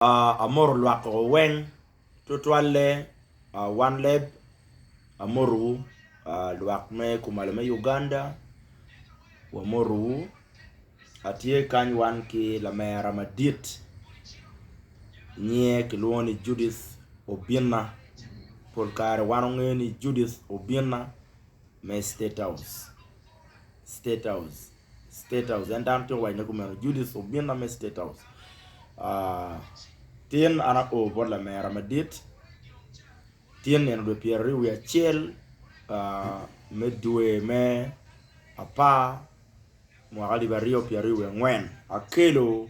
Amoto lwak o weng tutwalle one leb amoto wu lwak me kumalo me Uganda wamoto wu atye kany wan ki lamera madit nyinge kilwongo ni Judith Obinna pol kare wan wangeyo ni Judith Obinna me state house. State House. En dano tye owaco ne kumeno. Judith obinna me State House. Uh, tin an ao bot lamera madit. Tin nino dwe pyero aryo wi acel uh, me dwe me apar mwaka alip aryo pyero aryo wi angwen akelo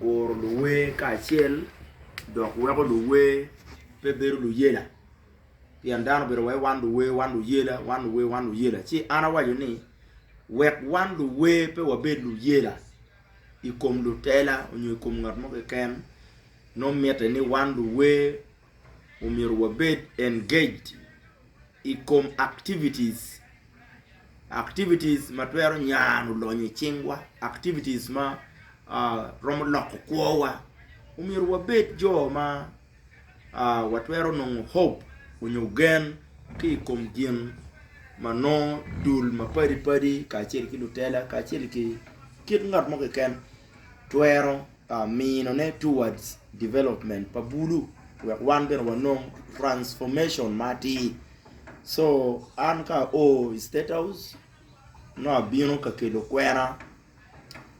guro luwer kacel dok weko luwer pe bedo luyela pien dano obedo wai wan luwer wan luyela wan luwer wan luyela ci an awaco ni wek wan luwer pe wabed luyela i kom lutela nyo i kom ngat mo keken nongo mitte ni wan luwer omyero wabed engaged i kom activities, activities ma twero nyano lonyo i cingwa, activities ma romo loko kwowa, omyero wabed jo ma watwero nongo hope onyo gen ki i kom gin ma nongo dul mapadi padi kacel ki lutela kacel ki kit ngat mo keken twero minone towards development pa bulu wek wan bene wanong transformation ma atir so an ka o i state house nongo abino ka kelo kwena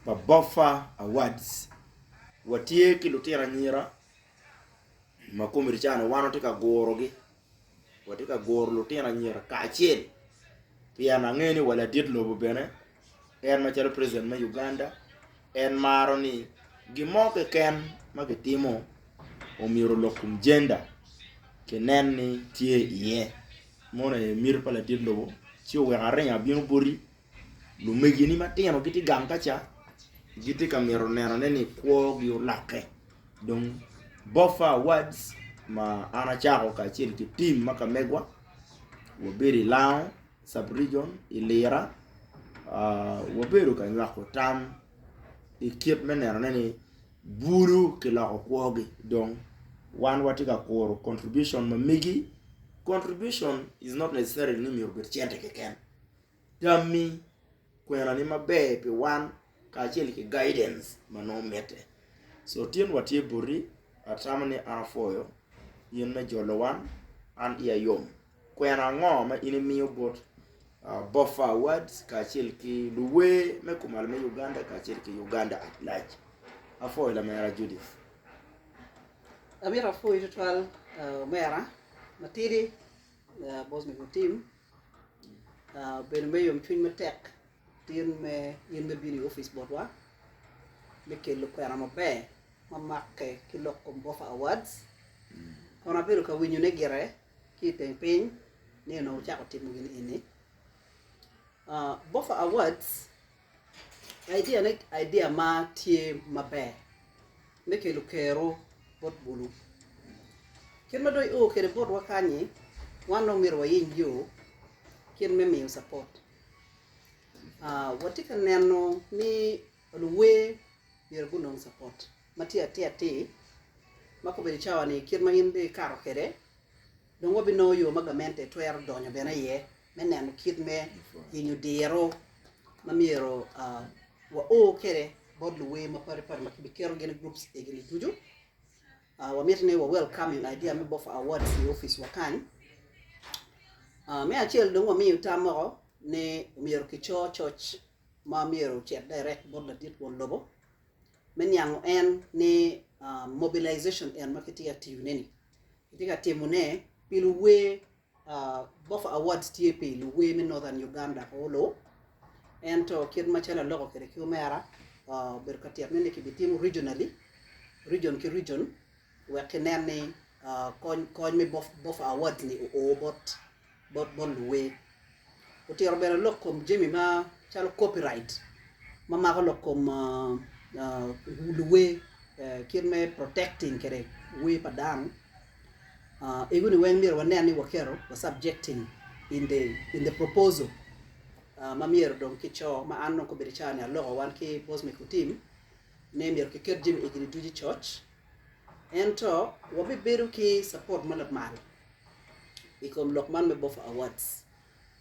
pa boffa awards watye ki lutino anyira ma komiti cani wan watye ka gurogi. watye ka guro lutino anyira kacel pien angeyo ni wa ladit lobo bene en macalo president me Uganda en maro ni gin mo keken ma kitimo omyero olok kom gender kinen ni tye iye, moni aye miti pa ladit lobo ci oweko aringo abino boti Lumegini matino gitye gang ka ca, gitye ka mito nenone ni kwogi olokke. Dong Boffa Awards ma an acako kacel ki tim ma ka megwa, wabedo i Lango sub region i Lira, wabedo ka nywako tam i kit me nenone ni bulu kiloko kwogi dong wan watye ka kuro contribution ma megi, contribution is not necessarily ni myero obed cente keken. tammi, kwenani maber pi wan kacel ki guidance ma nongo mitte. So tin watye boti, atamo ni an apwoyo in me jolo wan, an iya yom. Kwena ango ma in imiyo bot Boffa Awards kacel ki luwer me kumalo me Uganda kacel ki Uganda at large? Apwoyo lamera Judith. Amito apwoyi tutwal omera matidi bot mego tim. Bedo me yomcwiny matek tin me in me bino i opic botwa me kelo kwena maber ma make ki lok kom Gopher Awards. Kono abedo ka winyone gire ki i teng piny ni onongo wucako timo gin eni. Ah, Gopher Awards Idea ne idea ma tye maber me kelo kero bot bulu. Kit ma dong i oo kwede botwa kany-nyi wan dong myero wayiny yo kit me miyo capot. Watye ka neno ni luwer myero gunong capot ma tye atir atir ma ka obedo cawa-ni kit ma in dong ikato kwede dong wabinongo yo ma gamente twero donyo bene iye me neno kit me yenyo diro ma myero wao kwede bot luwer mapadi padi ma kibiketo gin i groups egini ducu. Wa miti ni wa welcome idea me Bofa Awards i office wa kany. Me acel dong wa miyo tam moko ni myero ki co coc ma myero ocit direct bot ladit won lobo me niango en ni mobilization en ma kitye ka tiyo ne ni kitye ka timone pi luwer Boffa Awards tye pi luwer me Northern Uganda Awolowo ento kit macalo aloko kwede ki omera obedo ka tyet ne ni kibitimo regionally, region ki region wek kinen ni kony me Boffa Awards ni oo bot luwer. otito bene lok kom jami macalo copyright ma mako lok kom luwer kit me protecting kede wer pa dano ego ni weng myero wanen ni waketo wa subjecting in the proposal ma myero dong ki co ma an dong kobedo ica ni aloko wan ki boss me ku team ni myero ki ket jami egi ducu i coc ento wabibedo ki support ma lamal i kom lok man me Boffa Awards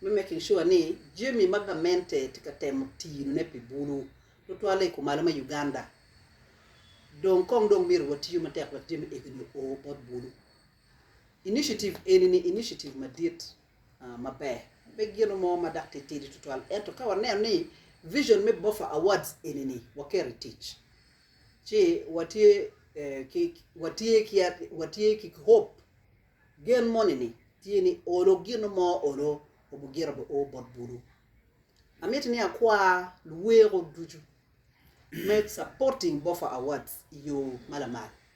me making sure ni jami ma gamente tye ka temo tinone pi bulu tutwale i kumalo me Uganda dong kong dong myero watiyo matek wek jami egini o bot bulu. Initiative eni ni initiative madit ah, maber, pe gino mo ma dok titidi tutwal ento ka waneno ni vision me Boffa Awards eni ni waketo i tic, ci watye ki watye ki watye ki hope gen moni ni tye ni olo gin mo olo obugira bi o bot bulu amiti ni akwa luweko ducu me supporting bofa awards iyo malamal.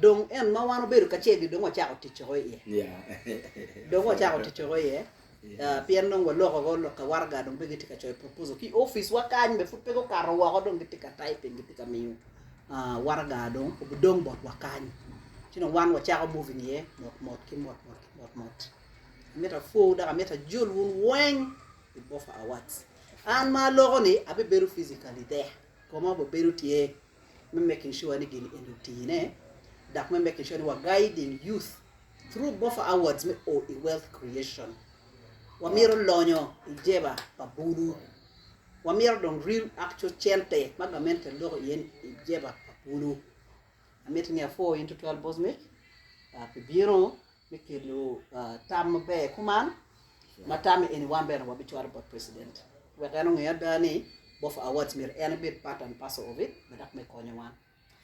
Dong en ma wan obedo kacel-li dong wacako tic woko iye. Dong wacako tic woko iye, pien dong waloko woko lok ka waraga dong pe gitye ka coyo proposal ki i oficwa kany be pud pe gukato woko dong gitye ka typing gitye ka miyo waraga dong obidong botwa kany. Ci dong wan wacako moving iye motmot ki motmot ki motmot. Amito apwowu dok amito ajol wun weng i Bofa Awards. An ma aloko-ni abibedo physically there, koma obibedo tye. me making sure ni gin eni otine dok me making sure ni wa guiding youth through Bofa Awards me o i wealth creation. Wamito lonyo i jeba pa bulu. Wamito dong real actual cente ma gamente loko iye i jeba pa bulu. Amiti ni apwo in tutwal boss mic uh, pi bino me kelo tam maber i kuman ma tamme eni wan bene wabicwalo bot president wek en onge ada ni Boffa Awards myero en ebed part and parcel of it me dok me konyo wan.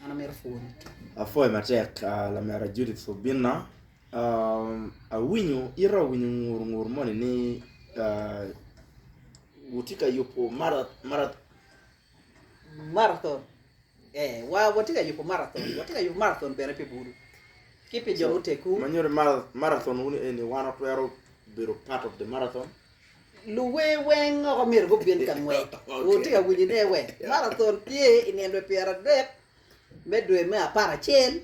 An amito pwony. Apwoyo matek lamera Judith Obinna, awinyo ite awinyo ngur ngur moni ni wutye ka yubo Marathon. Eh, wa, watye ka yubo marathon. Watye ka yubo marathon bene pi bulu ki pi jo mutegwu. Ma nyuto ni mara- marathon wun eni, wan watwero bedo part of the marathon. Luwer weng oko myero gubin ka ngwec. Wutye ka winyo ne we? Marathon tye i nino dwe pyeradek Me dwe me apar acel,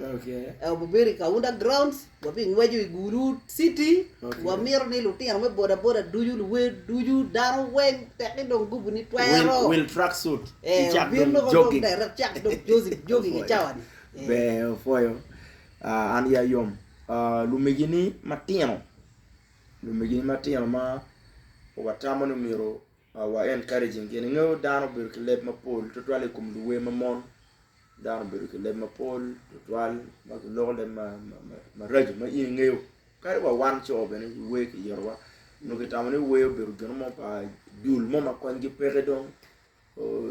wabibedo i Kaunda Grounds, wabingweco i Gulud City. Wamito ni lutino me bodaboda ducu, luwer ducu, dano weng tekki dong gupu ni twero. Wil tracksuit, icak dong jogging. Ber dok cak dong jogging i cawa-ni. Ber, opwoyo. An ya yom. Lumegini matino, lumegini matino ma watamo ni myero. Our Encouraging gin inge dano obedo ki leb mapol tutwal i kom luwer ma mon. Dano obedo ki leb mapol tutwal ma giloko leb ma, ma, ma, maraco ma in ingeyo. Kadi wa wan co bene i wer kiyitowa nyo kitamo ni wer obedo gino mo pa dul mo ma konygi peke dong. Oh,